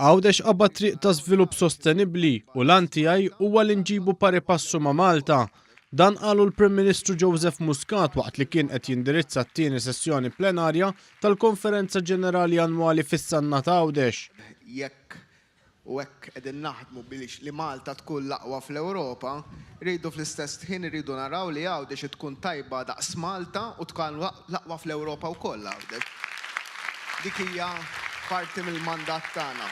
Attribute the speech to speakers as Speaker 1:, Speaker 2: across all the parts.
Speaker 1: Għawdex qabba triq ta' żvilupp sostenibbli u l tiegħi huwa li nġibu pari passu ma' Malta. Dan qalu l-Prim Ministru Joseph Muscat waqt li kien qed jindirizza t-tieni sessjoni plenarja tal-Konferenza Ġenerali Annwali fis-Sanna ta' Għawdex. Jekk
Speaker 2: u hekk qegħdin naħdmu biex li Malta tkun l-aqwa fl-Ewropa, rridu fl-istess ħin irridu naraw li Għawdex id tkun tajba daqs Malta u tkan l-aqwa fl-Ewropa wkoll Għawdex. Dik hija parti mill-mandat tagħna.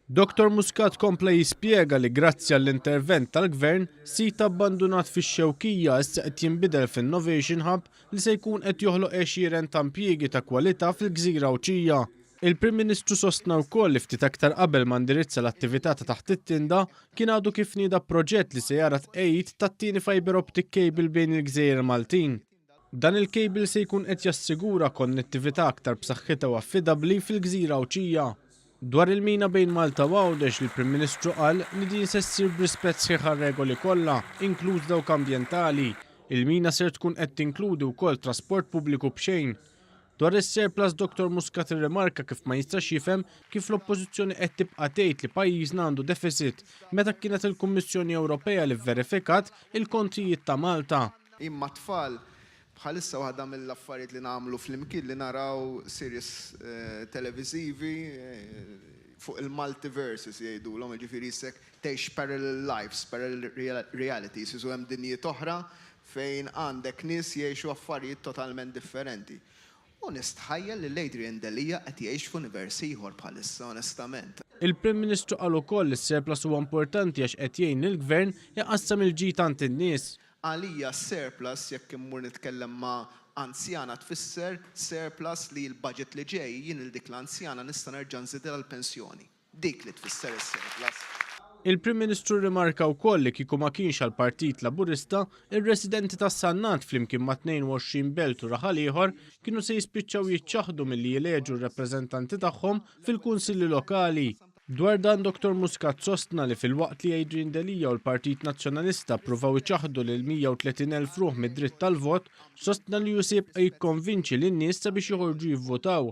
Speaker 2: Dottor
Speaker 1: Muscat kompla jispjega li grazzi għall-intervent tal-Gvern, sit abbandunat fix-Xewkija issa qed jinbidel f'innovation hub li se jkun qed joħloq għexieren ta' impjiegi ta' kwalità fil-Gżira Għawdxija. Il-Prim Ministru sostna wkoll li ftit aktar qabel ma ndirizza l-attività ta' taħt it-tinda, kien għadu kif nieda proġett li se jara t-tqegħid tat-tieni fibre optic cable bejn il-gżejjer Maltin. Dan il-cable se jkun qed jassigura konnettività aktar b'saħħitha u affidabbli fil-gżira Għawdxija. Dwar il-mina bejn Malta u Għawdex, l-Prim Ministru qal li din se ssir b'rispett sħiħ għar-regoli kollha, inkluż dawk ambjentali. Il-mina ser tkun qed tinkludi wkoll trasport pubbliku b'xejn. Dwar is-surplus Dottor Muscat irrimarka kif ma jistax jifhem kif l-Oppożizzjoni qed tibqa' tgħid li pajjiżna għandu deficit meta kienet il-Kummissjoni Ewropea li vverifikat il-kontijiet ta' Malta. Jien mat-tfal,
Speaker 2: bħalissa waħda mill-affarijiet li nagħmlu flimkien li naraw series televiżivi fuq il-multiverses jgħidulhom, jiġifieri issek tgħix parallel lives, parallel realities, jisu hemm dinjiet oħra fejn għandek nies jgħixu affarijiet totalment differenti. U nistħajjel lil Adrian Delia qed jgħix f'univers ieħor bħalissa onestament. Il-Prim Ministru
Speaker 1: qal ukoll li s-surplus huwa importanti għax qed jgħin lill-Gvern iqassam il-ġid għand in-nies. Għalija
Speaker 2: s-surplus, jekk immur nitkellem ma' anzjana tfisser surplus li l-budget li ġej jien lil dik l-anzjana nista' nerġa' nżidilha l-pensjoni. Dik li tfisser is-surplus. Il-Prim
Speaker 1: Ministru rrimarka wkoll li kieku ma kienx għall-Partit Laburista, ir-residenti tas-Sannat flimkien ma' 22 belt u raħal ieħor kienu se jispiċċaw jiċċaħħdu milli jeleġu r-rappreżentanti tagħhom fil-Kunsilli Lokali. Dwar dan Dottor Muscat sostna li filwaqt li Adrian Delia u l-Partit Nazzjonalista ppruvaw iċaħħdu lil 130 elf ruħ mid-dritt tal-vot, sostna li hu se jibqa' jikkonvinċi lin-nies sabiex joħorġu jivvotaw